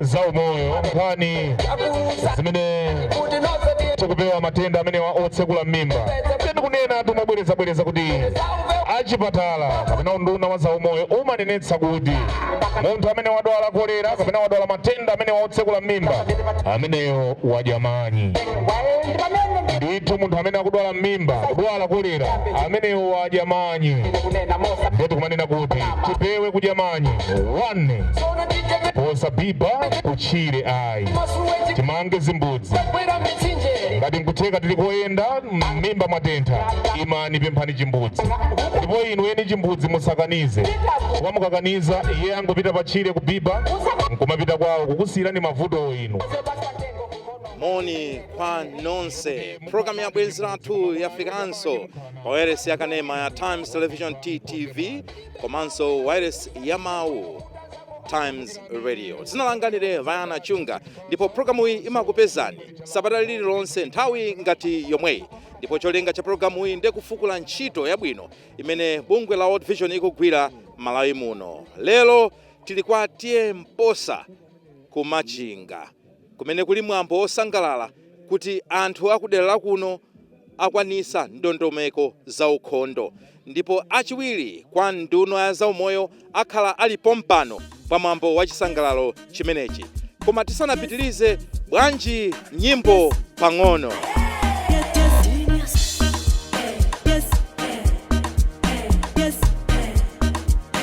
za umoyo nkhani zimene tikupewa matenda amenewa otsekula m'mimba ndiye kunena tumabwerezabwereza kuti achipatala kapena unduna wa zaumoyo umanenetsa kuti munthu amene wadwala kolera kapena wadwala matenda amenewa otsekula m'mimba ameneyo wadya manyi ndithu munthu amene akudwala m'mimba kudwala kolera ameneyo wadya manyi ndiye tikumanena kuti tipewe kudya manyi 1 osabiba kutchire ayi timange zimbudzi ngati nkutheka tili koyenda mmimba mwatentha imani pemphani chimbudzi ndipo inu eni chimbudzi musakanize kwa mukakaniza iye angopita patchire kubiba nkumapita kwawo kukusiyirani mavutowo inu moni kwa nonse programu ya bwenzi lathu yafikanso pa wailesi ya kanema ya times television ttv komanso wailesi ya mawu times radio dzina langa ndine vayana chunga ndipo programu iyi imakupezani sabata lililonse nthawi ngati yomweyi ndipo cholinga cha programu iyi ndiye kufukula ntchito yabwino imene bungwe la world vision ikugwira malawi muno lero tili kwa TA mposa ku machinga kumene kuli mwambo wosangalala kuti anthu akudera la kuno akwanisa ndondomeko za ukhondo ndipo achiwiri kwa nduna ya zaumoyo akhala ali pompano pa mwambo wa chisangalalo chimenechi koma tisanapitilize bwanji nyimbo pang'ono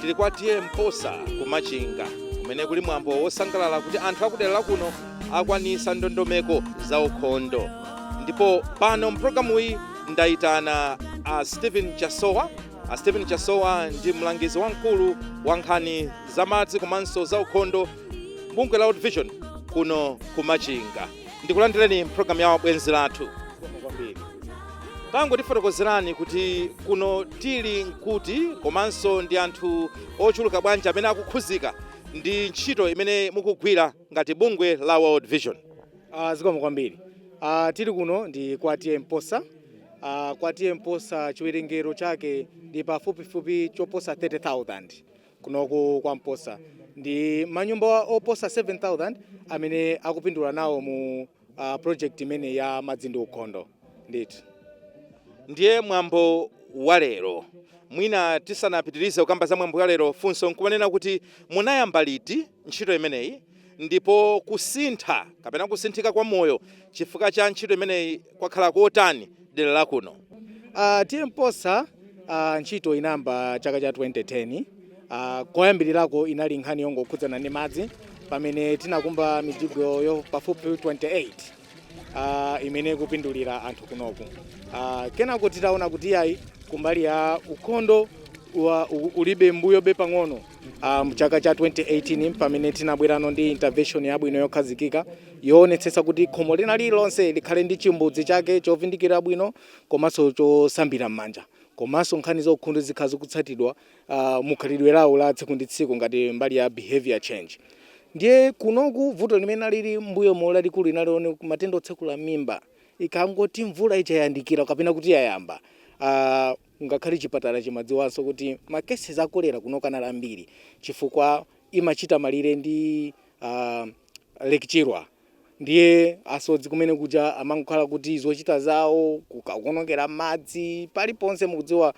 tili kwa TA mposa ku machinga kumene kuli mwambo wosangalala kuti anthu akudera la kuno akwanisa ndondomeko za ukhondo ndipo pano mpulogalamu iyi ndayitana a stephen chasowa a stephen chasowa ndi mlangizi wamkulu wa nkhani za madzi komanso za ukhondo m'bungwe la world vision kuno ku machinga ndikulandireni mpulogalamu ya bwenzi lathu kwambiri tangotifotokozerani kuti kuno tili nkuti komanso ndi anthu ochuluka bwanji amene akukhuzika ndi ntchito imene mukugwira ngati bungwe la world vision Uh, zikomo kwambiri uh, tili kuno ndi kwa TA Mposa uh, kwa TA Mposa chiwerengero chake ndi pafupifupi choposa 30,000 kunoku kwa Mposa ndi manyumba oposa 7000 amene akupindula nawo mu uh, project imene ya madzi ndi ukhondo ndithu ndiye mwambo wa lero mwina tisanapitirize kukamba za mwambo wa lero funso nkumanena kuti munayamba liti ntchito imeneyi ndipo kusintha kapena kusinthika kwa moyo chifukwa cha ntchito imeneyi Kwakhala kotani dera la kuno? Uh, TA Mposa uh, ntchito inayamba chaka cha 2010 uh, koyambirirako inali nkhani yongokhudzana ndi madzi pamene tinakumba mijigo ya pafupi 28 uh, imene ikupindulira anthu kunoku uh, kenako titaona kuti ayi kumbali ya ukhondo wa, u, ulibe mbuyobe pang'ono uh, mchaka cha 2018 pamene tinabwera no ndi intervention yabwino yokhazikika yoonetsetsa kuti khomo lina lililonse likhale ndi chimbudzi chake chovindikira bwino komanso chosambira m'manja komanso nkhani za ukhondo zikhale zikutsatidwa ah, mu khalidwe lawo la tsiku ndi tsiku ngati mbali ya behavior change ndiye kunoku vuto limene linali mbuyomu lalikulu linali la matenda otsekula m'mimba ikangoti mvula ija yayandikira kapena kuti yayamba ah, ngakhale chipatala chimadziwanso kuti makesi a kolera kunoku anali ambiri chifukwa imachita malire ndi ah, Lake Chilwa ndiye asodzi kumenekuja amangokhala kuti zochita zawo kukaonongera madzi paliponse mukudziwa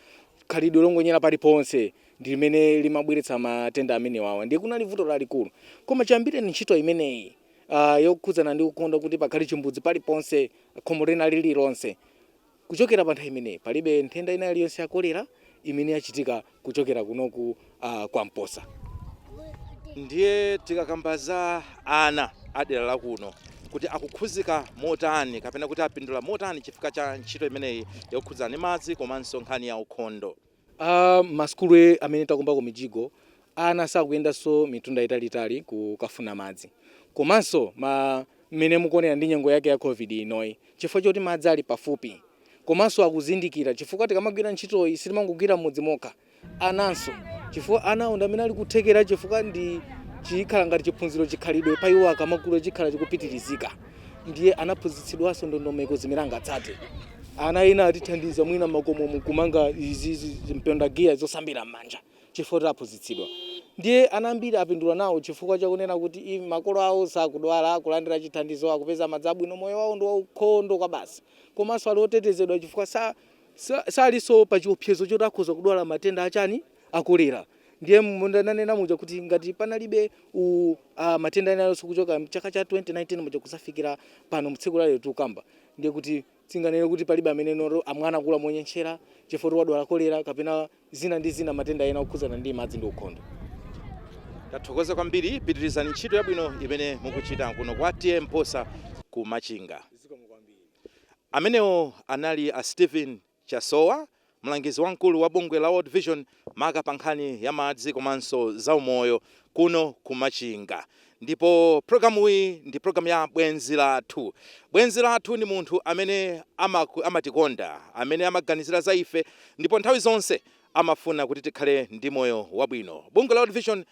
khalidwe longonyera paliponse ndi limene limabweretsa matenda amenewawa ndiye kunali vuto lalikulu koma chiyambireni ntchito imeneyi uh, yokhudzana ndi ukhondo kuti pakhale chimbudzi paliponse khomo lina lililonse Kuchokera pa nthawi imeneyi palibe nthenda ina iliyonse ya kolera imene yachitika kuchokera kunoku uh, kwa Mposa. Ndiye tikakamba za ana a dera la kuno kuti akukhudzika motani kapena kuti apindula motani chifukwa cha ntchito imeneyi yokhudzana ndi madzi komanso nkhani ya ukhondo. A masukulu amene takumbako mijigo, ana sakuyendanso mitunda italiitali kukafuna madzi. Komanso ma, mmene mukuonera ndi nyengo yake ya Covid inoyi, chifukwa choti madzi ali pafupi komanso akuzindikira chifukwa tikamagwira ntchitoyi sitimangogwira m'mudzi mokha, ananso chifukwa anawo ndi amene ali ndi kuthekera chifukwa nchikhala ngati chiphunziro, chikhalidwe pa iwo akamakula chikhala chikupitirizika. ndiye anaphunzitsidwanso ndondomeko zimene angatsate ana ena atithandiza mwina m'makomomu kumanga izizi mpondagiya zosambira m'manja chifukwa kuti aphunzitsidwa ndiye ana ambiri apindula nawo chifukwa chakunena kuti i- makolo awo sakudwala akulandira chithandizo akupeza madzi abwino moyo wawo ndi waukhondo kwabasi komanso ali otetezedwa chifukwa sa- sa- salinso pa chiopsezo choti akhoza kudwala matenda achani a kolera Ndiye monga ndanena muja kuti ngati panalibe u, a, matenda ena alionse kuchoka mchaka cha 2019 muja kudzafikira pano mtsiku lalero tikukamba ndiye kuti tinganene kuti palibe amene noro mwana akula monyentchera chifukwa choti wadwala kolera kapena zina ndi zina matenda ena okhudzana ndi madzi ndi ukhondo. Tathokoza kwambiri pitirizani ntchito yabwino imene mukuchita kuno kwa TA Mposa ku Machinga. Amenewo anali a Steven Chasowa, mlangizi wamkulu wa bungwe la World Vision maka pa nkhani ya madzi komanso za umoyo kuno ku Machinga. Ndipo pulogalamuyi ndi pulogalamu ya Bwenzi Lathu. Bwenzi lathu ndi munthu amene amatikonda, amene amaganizira za ife ndipo nthawi zonse amafuna kuti tikhale ndi moyo wabwino. Bungwe la World Vision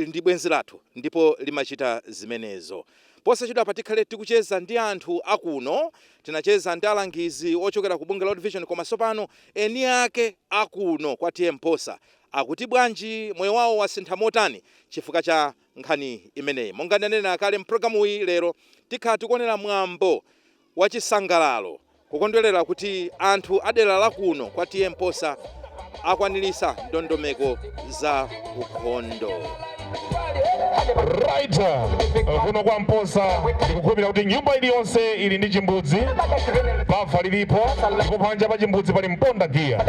ndi bwenzi lathu ndipo limachita zimenezo. Posachedwapa tikhale tikucheza ndi anthu a kuno. Tinacheza ndi alangizi ochokera ku bungwe la World Vision koma tsopano eni ake a kuno kwa T.A Mposa akuti bwanji, moyo wawo wasintha motani chifukwa cha nkhani imeneyi. Monga ndanena kale, m'programuyi lero tikhala tikuonera mwambo wachisangalalo kukondwelera kuti anthu adera la kuno kwa T.A Mposa akwanilisa ndondomeko za ukhondo. Right. Kuno kwa Mposa ndikukhulupirira kuti nyumba iliyonse ili ndi chimbudzi, bafa lilipo ndipo panja pa chimbudzi pali mponda giya.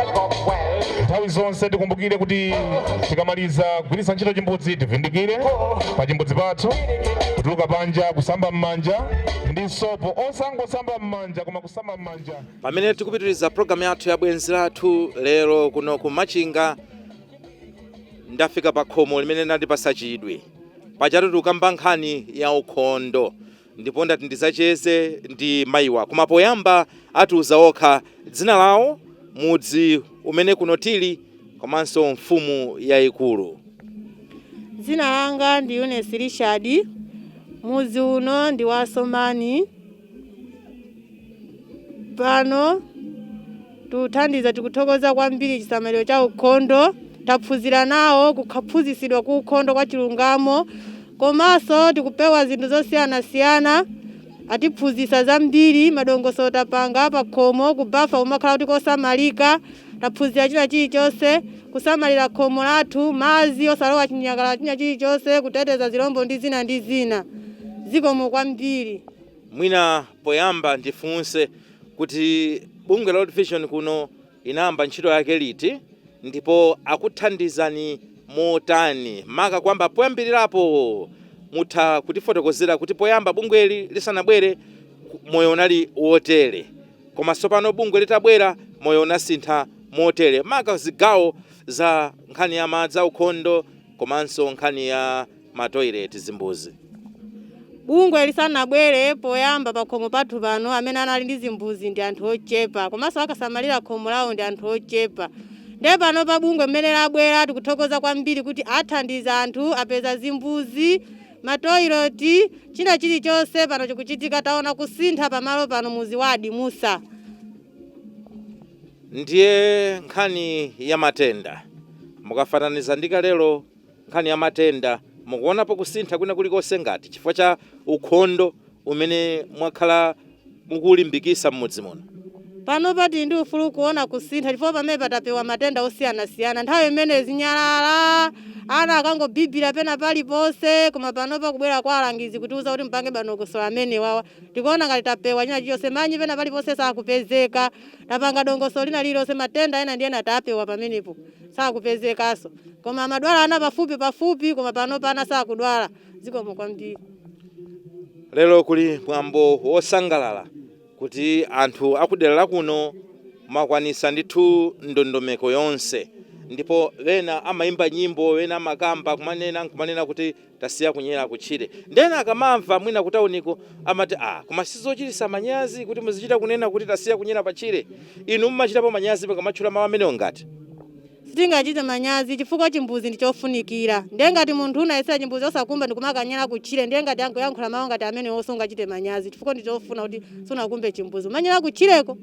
Nthawi zonse tikumbukire kuti tikamaliza kugwiritsa ntchito chimbudzi tivindikire pa chimbudzi pathu, kutuluka panja, kusamba m'manja ndi sopo osangosamba m'manja koma kusamba m'manja pamene tikupitiriza programu yathu ya bwenzi lathu lero kuno ku machinga ndafika pa khomo limene landipasa chidwi pajatu tikukamba nkhani ya ukhondo ndipo ndati ndizacheze ndi mayiwa koma poyamba atiuza okha dzina lawo mudzi umene kuno tili komanso mfumu yayikulu. Dzina langa ndi Eunice Richard. Mudzi uno ndi wa Somani. Pano tikuthandiza, tikuthokoza kwambiri chisamaliro cha ukhondo. Taphunzira nawo kukaphunzitsidwa ku ukhondo kwa chilungamo komanso tikupewa zinthu zosiyanasiyana. Atiphunzitsa zambiri, madongosolo tapanga, pakhomo, ku bafa kumakhala kuti kosamalika, taphunzira china chilichonse, kusamalira khomo lathu, madzi, osalowa chinyakala china chilichonse, kuteteza zilombo ndi zina ndi zina. Zikomo kwambiri. Mwina poyamba ndifunse kuti bungwe la World Vision kuno Inayamba ntchito yake liti ndipo akuthandizani motani maka kuyamba poyambilirapo? Mutha kutifotokozera kuti poyamba bungweli lisanabwere moyo unali wotere koma tsopano bungwe litabwera moyo unasintha motere maka zigawo za nkhani ya madzi aukhondo komanso nkhani ya ma toilet zimbuzi. Bungwe lisanabwere poyamba pakhomo pathu pano amene anali ndi zimbuzi ndi anthu ochepa komanso akasamalira khomo lawo ndi anthu ochepa nde pano pa bungwe mmene labwera tikuthokoza kwambiri kuti athandiza anthu apeza zimbuzi matoilet china chilichonse pano chikuchitika taona kusintha pamalo pano muzi wa adimusa ndiye nkhani ya matenda mukafananiza ndi kalelo nkhani ya matenda, mukuonapo kusintha kwina kulikonse ngati chifukwa cha ukhondo umene mwakhala mukuulimbikisa mmudzi muno? Panopa tili ndi ufulu kuona kusintha chifukwa pamenepa tapewa matenda osiyanasiyana. Nthawi imeneyo zinyalala, ana akangobibira pena paliponse koma panopa kubwera kwa alangizi kutiuza kuti mupange dongosolo amenewawa tikuona ngati tapewa china chilichonse manyi pena paliponse sakupezeka tapanga dongosolo lina lililonse matenda ena ndi ena tapewa pamenepo sakupezekanso koma amadwala ana pafupi pafupi koma panopa ana sakudwala zikomo kwambiri lero kuli mwambo wosangalala kuti anthu akudera lakuno makwanisa ndithu ndondomeko yonse ndipo wena amayimba nyimbo wena amakamba kumanena nkumanena kuti Tasiya kunyera kutchire ndiye ena akamamva mwina kutauniko amati aah koma sizochitisa manyazi kuti muzichita kunena kuti tasiya kunyera patchire? Inu mumachitapo manyazi mukamatchula mau amenewo ngati? Sitingachite manyazi chifukwa chimbuzi ndi chofunikira ndiye ngati munthu unanyozera chimbuzi osakumba ndikumakanyera kutchire ndiye ngati akuyankhula mau ngati amenewo sungachite manyazi chifukwa ndi chofuna kuti sunakumbe chimbuzi umanyera kutchireko.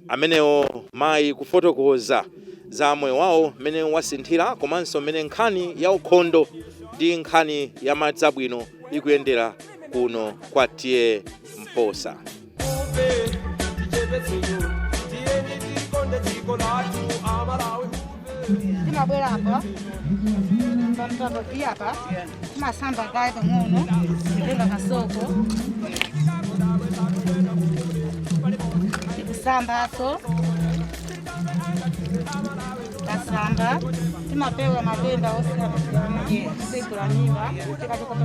amenewo mayi kufotokoza za moyo wawo mmene wasinthira komanso mmene nkhani ya ukhondo ndi nkhani ya madzi abwino ikuyendera kuno kwa TA Mposa Tichepetseyo, tiyeni tikonde dziko lathu, Amalawi. timabwera apa pamtapoti apa timasamba kaye pang'ono titenga kasoko tikusambaso kasamba timapewa matenda otsegula m'mimba tikachikopa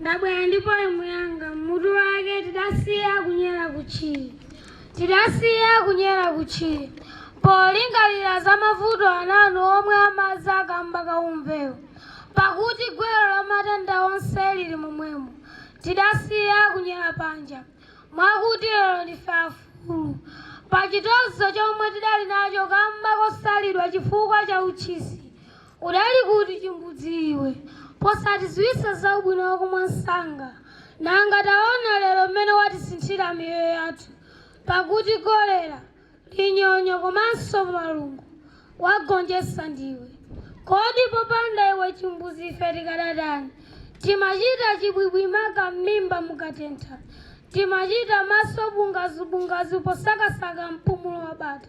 Ndabwera ndi poem yanga mutu wake tidasiya kunyera kutchire. Polingalira za mavuto ankhaninkhani omwe amadza kamba ka umvewo. Pakuti gwero la matenda onse lili momwemo. Tidasiya kunyera panja. Mwakuti lero ndife afulu. Pa chitonzo chomwe tidali nacho kamba kosalidwa chifukwa cha utchisi. Udali kuti chimbudzi iwe posatiziwisa za ubwino wako mwansanga nanga taona lero mmene wasinthira miyoyo yathu pakuti cholera, linyonyo komanso malungo wagonjesa ndiwe kodi popanda iwe chimbudzi ife tikadatani timachita chibwibwi maka mmimba mukatentha timachita maso bungazu bungazu posakasaka mpumulo wabata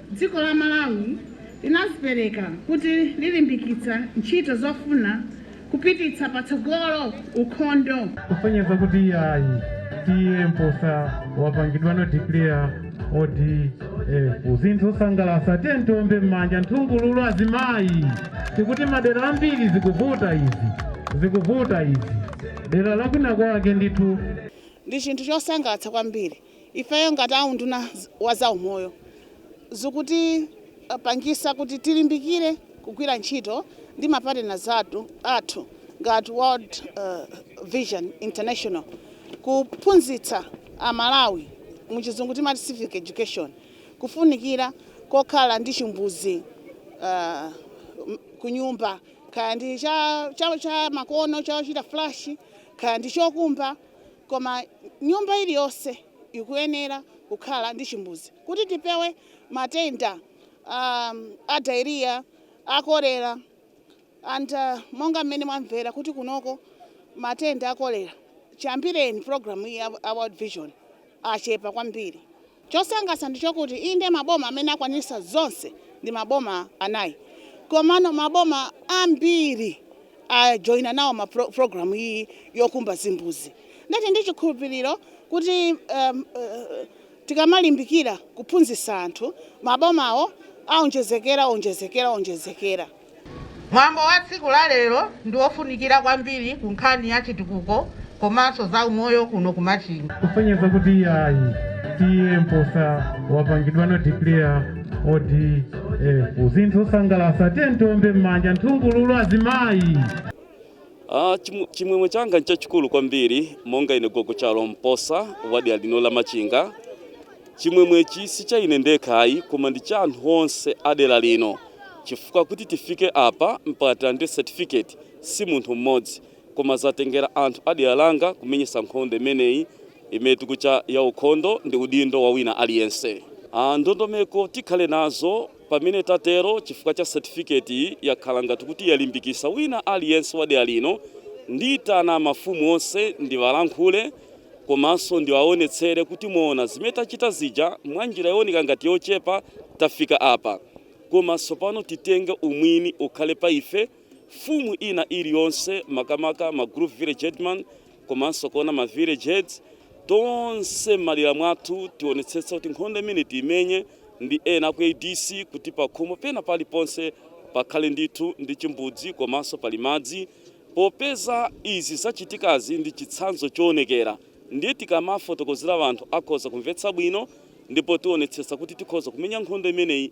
Dziko la Malawi linazipereka kuti lilimbikitsa ntchito zofuna kupititsa patsogolo ukhondo. kusonyeza kuti yayi T/A Mposa wapangidwano declare ODF zinthu osangalasa tiyeni tiombe m'manja nthungululu azimayi tikuti madera ambiri zikuvuta izi zikuvuta izi dera lakwina kwake ndithu Ndi chinthu chosangalatsa kwambiri Ifeyo ngati a unduna wa za umoyo zikutipangisa kuti tilimbikire kugwira ntchito ndi ma partners athu ngati World Vision International kuphunzitsa a Malawi, mu chizungu timati civic education, kufunikira kokhala ndi chimbuzi kunyumba kaya ndi cha makono chochita flush kaya ndi chokumba. Koma nyumba iliyonse ikuyenera kukhala ndi chimbuzi kuti tipewe matenda a diarrhea, a cholera and monga mmene mwamvera kuti kunoko matenda a cholera chiyambireni program iyi ya World Vision achepa kwambiri. Chosangalatsa ndi chokuti inde maboma amene akwanisa zonse ndi maboma anayi komano maboma ambiri a joina nawo ma pro, program iyi yokumba zimbuzi. Ndili ndi chikhulupiriro kuti um, uh, tikamalimbikira kuphunzitsa anthu mabomawo aonjezekera onjezekera onjezekera. Mwambo wa tsiku la lero ndi wofunikira kwambiri ku nkhani ya chitukuko komanso za umoyo kuno ku Machinga. kusonyeza kuti ayi T/A Mposa wapangidwano declare ODF, zinthu osangalatsa tiyeni tiombe m'manja nthungululu azimayi Ah, chimu- chimwemwe changa nchachikulu kwambiri monga ine gogo chalo Mposa wa dera lino la Machinga chimwemwechi si cha ine ndekha ayi koma ndi cha anthu onse a dera lino chifukwa kuti tifike apa mpaka tilandire certificate si munthu mmodzi koma zatengera anthu a dera langa kumenyetsa nkhondo imeneyi imene tikucha ya ukhondo ndi udindo wa wina aliyense Ah, ndondomeko tikhale nazo Pamene tatero chifukwa cha certificate iyi yakhala ngati kuti yalimbikisa wina aliyense wa dera lino ndiitana mafumu onse ndiwalankhule komanso ndiwaonetsere kuti mwaona zimene tachita zija mwanjira yooneka ngati yochepa tafika apa koma tsopano titenge umwini ukhale pa ife, mfumu ina iliyonse makamaka ma group village headman. komanso kuona ma village heads tonse m'madera mwathu tionetsetsa kuti nkhondo imeneyi tiimenye ndi ena aku ADC kuti pakhomo pena paliponse pakhale ndithu ndi chimbudzi komanso pali madzi popeza izi zachitikazi ndi chitsanzo choonekera ndiye tikamafotokozera anthu akhoza kumvetsa bwino ndipo tionetsetsa kuti tikhoza kumenya nkhondo imeneyi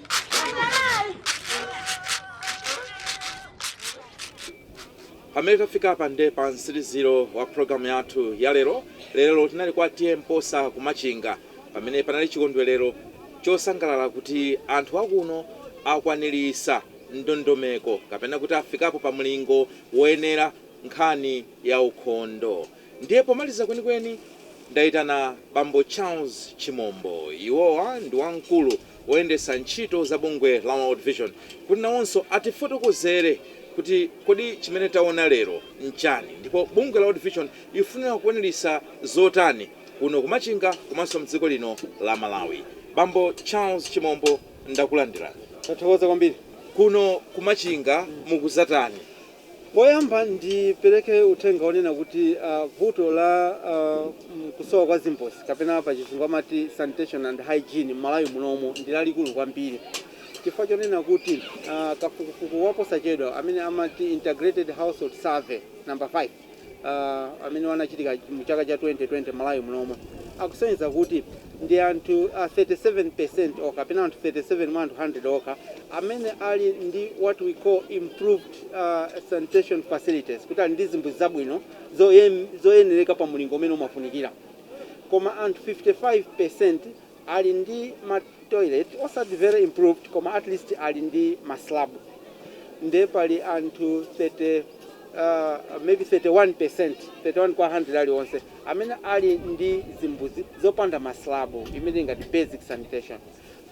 pamene tafika apa nde pa mtsiliziro wa pulogalamu yathu ya lero lero tinali kwa T/A Mposa ku Machinga pamene panali chikondwerero chosangalala kuti anthu akuno akwanirisa ndondomeko kapena kuti afikapo pa mlingo woyenera nkhani ya ukhondo Ndiye pomaliza kwenikweni ndaitana bambo Charles Chimombo, iwowa ndi wamkulu woyendetsa ntchito za bungwe la World Vision, kuti nawonso atifotokozere kuti kodi chimene taona lero n'chani ndipo bungwe la World Vision ikufunira kuonetsa zotani kuno ku Machinga komanso m'dziko lino la Malawi. Bambo Charles Chimombo, ndakulandirani. Tathokoza kwambiri. Kuno ku Machinga mukudzatani? Poyamba ndipereke uthenga onena kuti vuto la kusowa kwa zimbuzi kapena pa chizungu amati sanitation and hygiene m'Malawi munomu ndi lalikulu kwambiri chifukwa chonena kuti kafukufuku waposachedwa amene amati Integrated Household Survey number 5 uh, amene anachitika mu chaka cha 2020 m'Malawi munomu akusonyeza kuti ndi anthu uh, 37% okha kapena anthu 37 mwa anthu 100 okha amene ali ndi what we call improved uh, sanitation facilities kuti ali ndi zimbuzi zabwino zoyem- zoyenereka pa mulingo umene umafunikira koma anthu 55% ali ndi ma toilet osati very improved koma at least ali ndi ma slab nde pali anthu 30 uh, maybe 31%, 31 kwa 100 alionse amene ali ndi zimbuzi zopanda ma slab imene ili ngati basic sanitation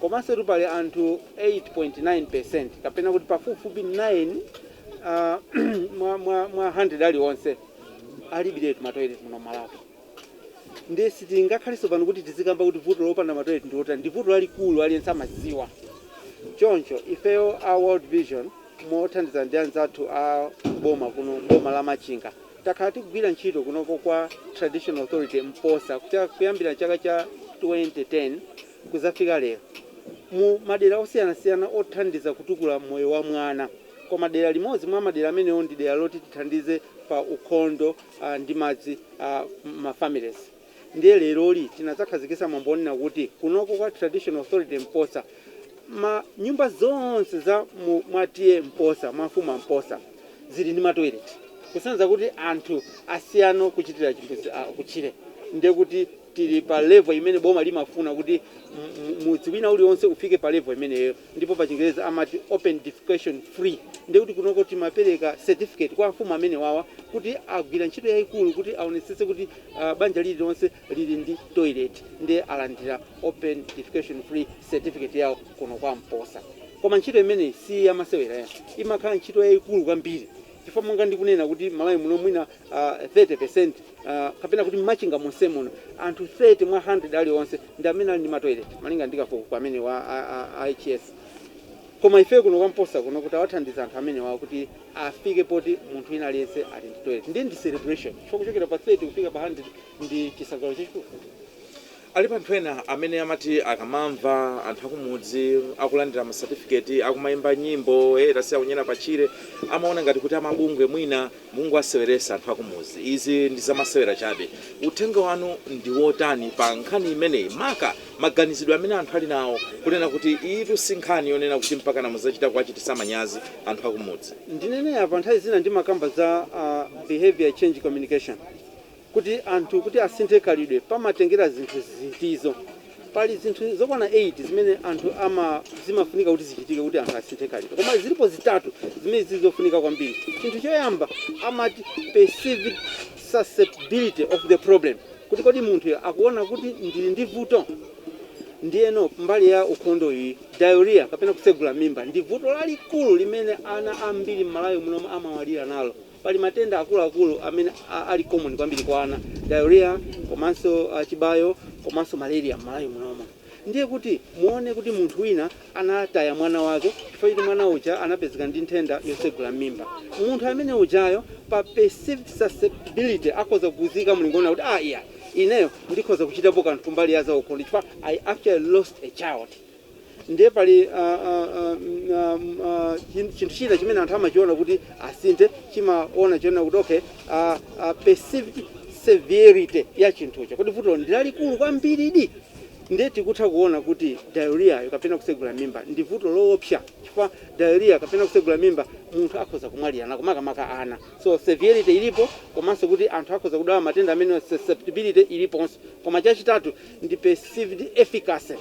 komansotu pali anthu 8.9% kapena kuti pafupifupi 9 uh, mwa, mwa, mwa 100 alionse alibiretu ma toilet muno Malawi. Ndiye sitingakhalenso pano kuti tizikamba kuti vuto lopanda matoilet ndi lotani, ndi vuto lalikulu, aliyense amadziwa. Choncho, ifeyo a World Vision mothandizana ndi anzathu a boma kuno m'boma la Machinga, takhala tikugwira ntchito kunoko kwa Traditional Authority Mposa kuyambira chaka cha 2010 kudzafika lero, mu madera osiyanasiyana othandiza kutukula moyo wa mwana. Koma dera limodzi mwa madera amenewo ndi dera loti tithandize pa ukhondo. a ndi madzi a ma families ndiye leroli tinadzakhazikitsa mwambo wonena kuti kunoko kwa traditional authority mposa ma nyumba zonse za mu mwa TA mposa mwa mfumu a mposa zili ndi ma toilet kusonyeza kuti anthu asiyano kuchitira chimbudzi a kutchire ndiye kuti Tili pa level imene boma limafuna kuti mudzi wina ulionse ufike pa level imeneyo ndipo pa chingerezi amati open defecation free ndiye kuti kunoko timapereka certificate kwa amfumu amenewawa kuti agwira ntchito yaikulu kuti aonetsetse kuti banja lililonse lili ndi toilet ndiye alandira open defecation free certificate yawo kuno kwa Mposa koma ntchito imeneyi si yamasewera ya imakhala ntchito yaikulu kwambiri chifukwa monga ndikunena kuti Malawi muno mwina 30 peresenti, kapena kuti m'Machinga monsemuno, anthu 30 mwa 100 alionse ndi amene ali ndi matoilet, malinga ndi kafukufuku amene wa IHS. Koma ifeyo kuno kwa Mposa kuno kuti tawathandiza anthu amenewa kuti afike poti munthu wina aliyense ali ndi toilet, ndiye ndi celebration chifukwa kuchokera pa 30 kufika pa 100 ndi chisangalalo chachikulu. Alipo anthu ena amene amati akamamva anthu akumudzi akulandira ma certificate, akumaimba nyimbo, hey tasiya kunyera pa tchire, amaona ngati kuti amabungwe mwina mukungowaseweresa anthu akumuzi, izi ndi zamasewera chabe. Uthenga wanu ndi wotani pa nkhani imeneyi maka maganizidwe amene anthu ali nawo kunena kuti iyitu si nkhani yonena kuti mpakana muzachita kuwachitisa manyazi anthu akumudzi? Ndinene apa, nthawi zina ndimakamba za behaviour change communication. Kuti anthu kuti asinthe khalidwe pamatengera zinthu ziti? Pali zinthu zokwana 8 zimene anthu ama zimafunika kuti zichitike kuti anthu asinthe khalidwe. Koma zilipo zitatu zimene zili zofunika kwambiri. Chinthu choyamba amati perceived susceptibility of the problem, kuti kodi munthuyo akuona kuti ndili ndi vuto? Ndiyeno mbali ya ukhondo iyi, diarrhoea kapena kutsegula mimba ndi vuto lalikulu limene ana ambiri m'Malawi munomu amamwalira nalo. Pali matenda akuluakulu amene ali common kwambiri kwa ana, diarrhoea komanso chibayo komanso malaria m'Malawi munomo. Ndiye kuti muone kuti munthu wina anataya mwana wake chifukwa choti mwana uja anapezeka ndi nthenda yotsegula m'mimba. Munthu amene ujayo pa perceived susceptibility akhoza kukuyika mulingo onena kuti ah iai, ineyo ndikhoza kuchitapo kanthu kumbali ya zaukhondo chifukwa I actually lost a child. Ndiye pali a, a, a, m, a, m, a, chin- chinthu china chimene anthu amachiona kuti asinthe chimaona chonena kuti okay a, a perceived severity ya chinthucho kuti vutolo ndi lalikulu kwambiridi ndiye tikutha kuona kuti diarrhea kapena kutsegula mimba ndi vuto loopsa chifukwa diarrhea kapena kutsegula mimba munthu akhoza kumwalira nako makamaka ana so severity ilipo komanso kuti anthu akhoza kudwala matenda amene susceptibility iliponso koma chachitatu ndi perceived efficacy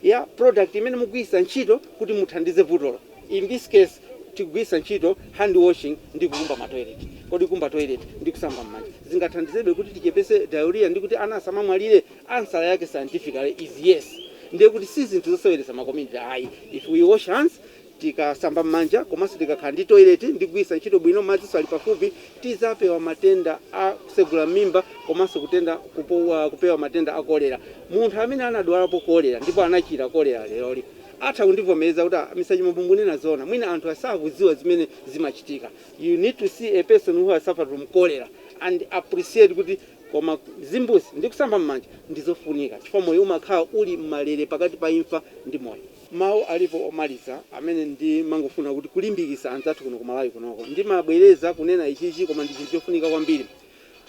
ya product imene mukugwiritsa ntchito kuti muthandize vutolo. In this case, tikugwiritsa ntchito hand washing ndi kukumba ma toilet. Kodi kukumba toilet ndi kusamba m'manja zingathandizebe kuti tichepetse diarrhoea ndi kuti ana asamamwalire? Answer yake scientifically is yes. Ndiye kuti si zinthu zoseweretsa ma community ayi. If we wash hands. Tikasamba m'manja komanso tikakhala ndi toilet ndi kugwiritsa ntchito bwino madzinso ali pafupi, tidzapewa matenda a kutsegula m'mimba komanso kutenda, kupewa matenda a kolera. Munthu amene anadwalapo kolera ndipo anachira kolera leroli atha kundivomereza kuti ah Mr Chimombo mukunena zoona mwina anthu sakudziwa zimene zimachitika. You need to see a person who has suffered from cholera and appreciate kuti koma zimbuzi ndi kusamba m'manja ndi zofunika chifukwa moyo umakhala uli m'malere pakati pa imfa ndi moyo. Mau alipo omaliza amene ndimangofuna kuti kulimbikisa anzathu kuno ku Malawi kunoko. Ndimabwereza kunena ichichi koma ndi chinthu chofunika kwambiri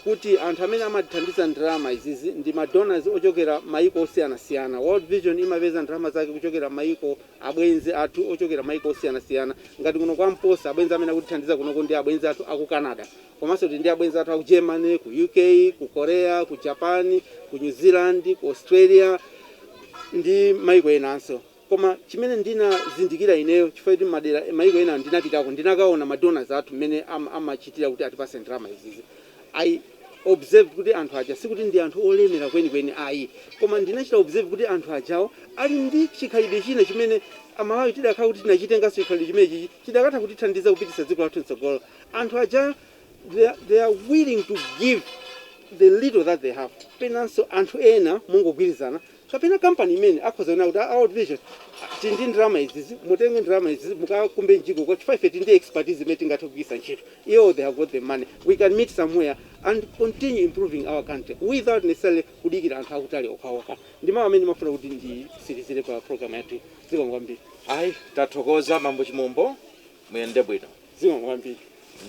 kuti anthu amene amatithandiza ndalama izizi ndi ma donors ochokera maiko osiyanasiyana. World Vision imapeza ndalama zake kuchokera maiko abwenzi athu ochokera maiko osiyanasiyana ngati kuno kwa Mposa abwenzi amene akutithandiza kunoko ndi abwenzi athu aku Canada. Komanso tili ndi abwenzi athu a ku Germany, ku UK, ku Korea, ku Japan, ku New Zealand, ku Australia ndi mayiko enanso. Koma chimene ndinazindikira ineyo, chifukwa choti madera, mayiko ena ndinapitako, ndinakaona ma donors athu mmene amachitira kuti atipatse ndalama izizi. I observed kuti anthu aja sikuti ndi anthu olemera kwenikweni ayi. Koma ndinachita observe kuti anthu ajawo ali ndi chikhalidwe china chimene Amalawi tikadakhala kuti tinachitenganso chikhalidwe chimenechichi, chidakatha kutithandiza kupititsa dziko lathu m'tsogolo. Anthu aja they are, they are willing to give the little that they have. Penanso anthu ena mungogwirizana kapena kampani imene akhoza kunena kuti a World Vision tili ndi ndalama izizi, mutenge ndalama izizi mukakumbe mjigo chifukwa ife tili ndi expertise imene tingathe kugwiritsa ntchito. Iwo they have got the money, we can meet somewhere and continue improving our country without necessarily kudikira anthu akutali okhaokha. Ndi mawu amene ndimafuna kuti nditsirizire pa program yathuyi. Zikomo kwambiri. Ayi, tathokoza Bambo Chimombo. Muyende bwino. Zikomo kwambiri.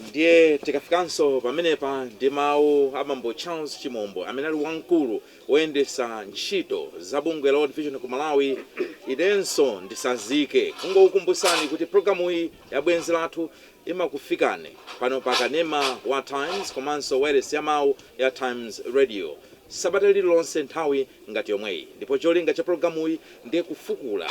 Ndiye tikafikanso pamenepa ndi mawu a bambo Charles Chimombo amene ali wamkulu woyendesa ntchito za bungwe la World Vision ku Malawi, inenso ndisazike kungokukumbusani kuti pulogalamuyi ya Bwenzi Lathu imakufikani pano pa kanema wa Times komanso wailesi ya mawu ya Times Radio sabata lililonse nthawi ngati yomweyi ndipo cholinga cha pulogalamuyi ndi kufukula